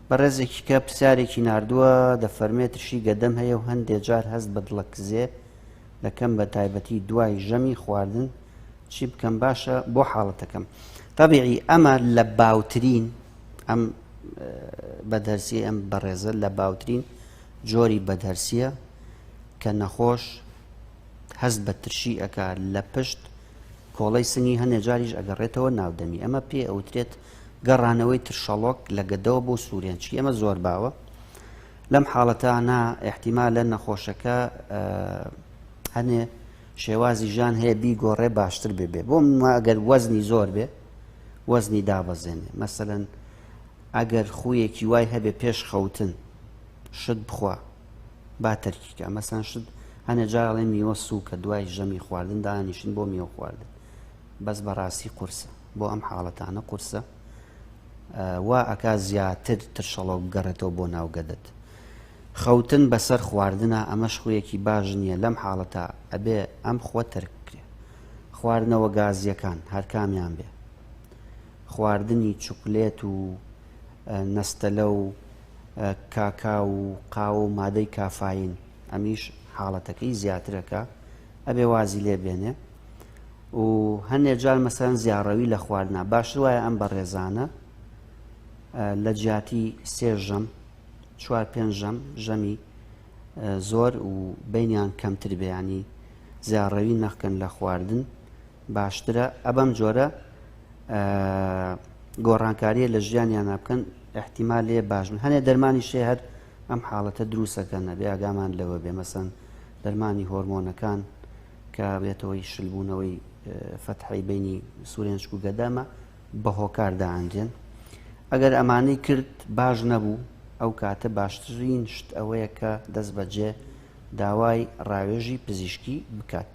بەڕێزێکی کە پرسیارێکی نردووە دەفەرمێ ترشی گەدەم هەیە و هەندێ جار هەست بە دڵە کزێ دەکەم بە تایبەتی دوای ژەمی خواردن چی بکەم باشە بۆ حاڵەتەکەم طبیعی ئەمە لە باوترین ئەم بەدەرسی ئەم بەڕێزە لە باوترین جۆری بەدەرسیە کە نەخۆش هەست بە ترشی ئەک لە پشت کۆڵەی سنگی هەنێ جاریش ئەگەڕێتەوە ناو دەمی، ئەمە پێ ئەوترێت گەڕانەوەی ترشەڵۆک لە گەدەوە بۆ سورێنچکی، ئەمە زۆر باوە. لەم حاڵەتانە ئیحتیمالە نەخۆشەکە هەنێ شێوازی ژیان هەیە بیگۆڕێ باشتر ببێ بۆ منما ئەگەر وەزنی زۆر بێ وەزنی دابەزێنێ مەسەەن ئەگەر خویەکی وای هەبێ پێش خەوتن شت بخوا با تەرکی کە مەسەن شت هەنە جاڵێ میوە سووکە دوای ژەمی خواردن دانیشن بۆ میوە خواردن بەس بەڕاستی قورسە بۆ ئەم حاڵەتانە قورسە وا ئەکا زیاتر ترشەڵۆ بگەڕێتەوە بۆ ناوگەدت خەوتن بەسەر خواردنە ئەمەش خویەکی باش نییە لەم حاڵەتە ئەبێ ئەم خوە تەرک بکرێ خواردنەوە گازیەکان هەرکامیان بێ خواردنی چوکلێت و نەستەلە و کاکاو و قاوە و مادەی کافایین ئەمیش حاڵەتەکەی زیاترە کە ئەبێ وازی لێ بێنێ و هەندێ جار مەسەن زیاڕەوی لە خواردنا باشتر وایە ئەم بەڕێزانە لە جیاتی سێ ژەم چوار پێنج ژەم ژەمی زۆر و بینیان کەمتر بەیانی زیاڕەوی نەخکەن لە خواردن باشترە ئە بەم جۆرە گۆڕانکاریە لە ژیانیانە بکەن احتیما لێ باشن هەنێ دەرمانی شێ هەر ئەم حاڵەتە دروستەکە نەبێ ئاگامان لەوە بێ مەسەن دەرمانی هۆرمۆنەکان کە بێتەوەی شلبوونەوەی فەتحی بینی سورێنشک و گەدامە بە هۆکار داهاندێن ئەگەر ئەمانەی کرد باش نەبوو ئەو کاتە باشترین شت ئەوەیە کە دەست بەجێ داوای ڕاوێژی پزیشکی بکات.